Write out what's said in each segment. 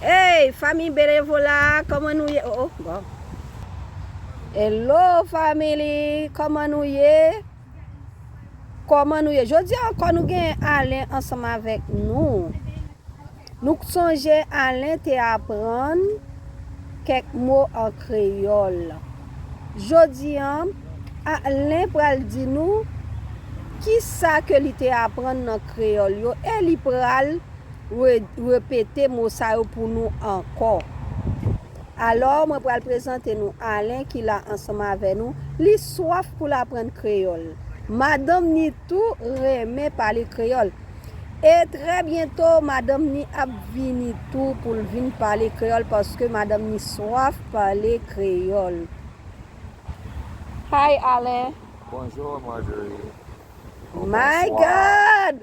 Hey famille benevola koman nou ye oh oh bon Hello family koman nou ye koman nou ye jodia ankò nou gen Alain ansanm avèk nou nou k sonje Alain te aprann kèk mo an kreyòl jodi an Alain pral di nou kisa ke li te aprann nan kreyòl yo e li pral Re-repete mo sa yo pou nou ankò. Alò, mwen pral prezante nou Alen ki la ansanm avè nou. Li swaf pou l aprann kreyòl. Madanm ni tou renmen pale kreyòl. E trè byento, madanm ni ap vini tou pou l vin pale kreyòl paske madanm ni swaf pale kreyòl. Hi, Alen! Bonjour, Marjorie! Ou bonswa! My God!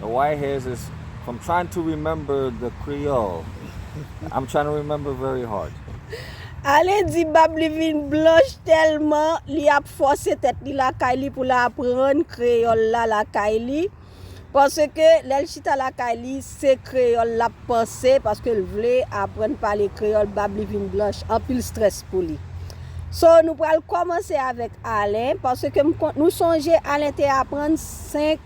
The white hairs is from trying to remember the creole I'm trying to remember very hard. Ale di bab li vin blanch tèlman li ap fòse tèt li lakay li pou l aprann kreyòl la lakay li paske lè l chita lakay li se kreyòl l ap panse paske l vle aprann pale kreyòl bab li vin blanch anpil strès pou li so nou pral kòmanse avèk Alen paske m konn nou sonje Alen te aprann 5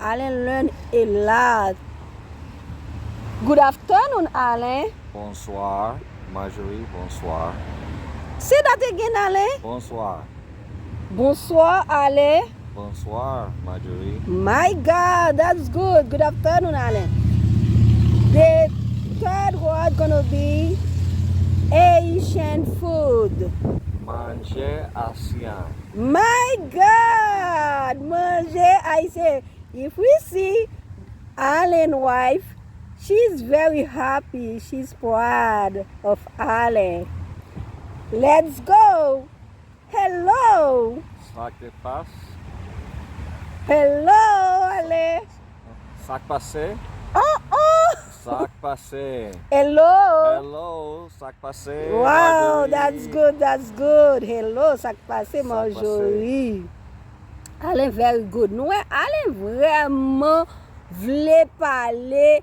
Alain Lune e la. Good afternoon Alain. Bonsoir Marjorie bonsoir. Se dat again Alain. Bonsoir. Bonsoir Alain. Bonsoir Marjorie. My God that's good good afternoon Alain. The third word gonna be Haitian food. Manjè Asyan. My God manje ayisyen if we see Alain wife she's very happy she's proud of Alain let's go hello Sa ki passe. Hello Alain. Sak pase? Oh oh! Sak pase? Hello! Hello! Sak pase? Wow! That's good, that's good! Hello! Sak pase Marjorie? Alain very good! Nou wè Alain vrèman vle pale!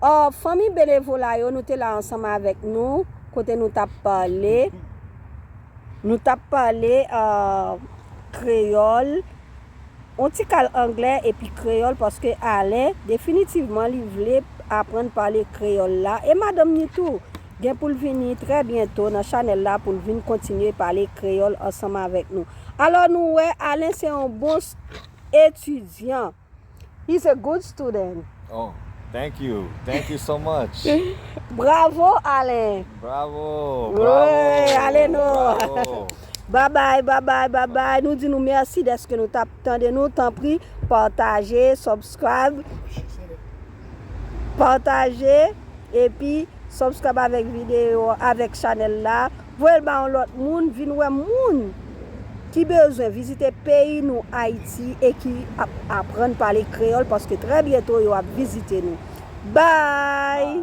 Ò, fanmi benevola yo, nou te la ansanm avèk nou, kote nou t ap pale, nou t ap pale kreyòl, yon ti kal anglè epi kreyòl paske Alen, definitivman li vle aprann pale kreyòl la e madanm ni tou, gen pou l vini trè byento nan chanèl la pou l vin kontinye pale kreyòl ansanm avèk nou. Alò nou wè, Alen se yon bon etidyan. He's a good student. Oh thank you thank you so much. Bravo Alain. Bravo bravo Wee ale nou. Bravo. Babay babay babay nou di nou merci deske nou tap tande nou tanpri pataje subscribe pataje epi subscribe avèk video avèk chanèl la. Voyel ba yon lot moun vin wè moun ki bezwen vizite peyi nou Ayiti e ki ap aprann pale kreyol paske trè byento yo ap vizite nou. Bye!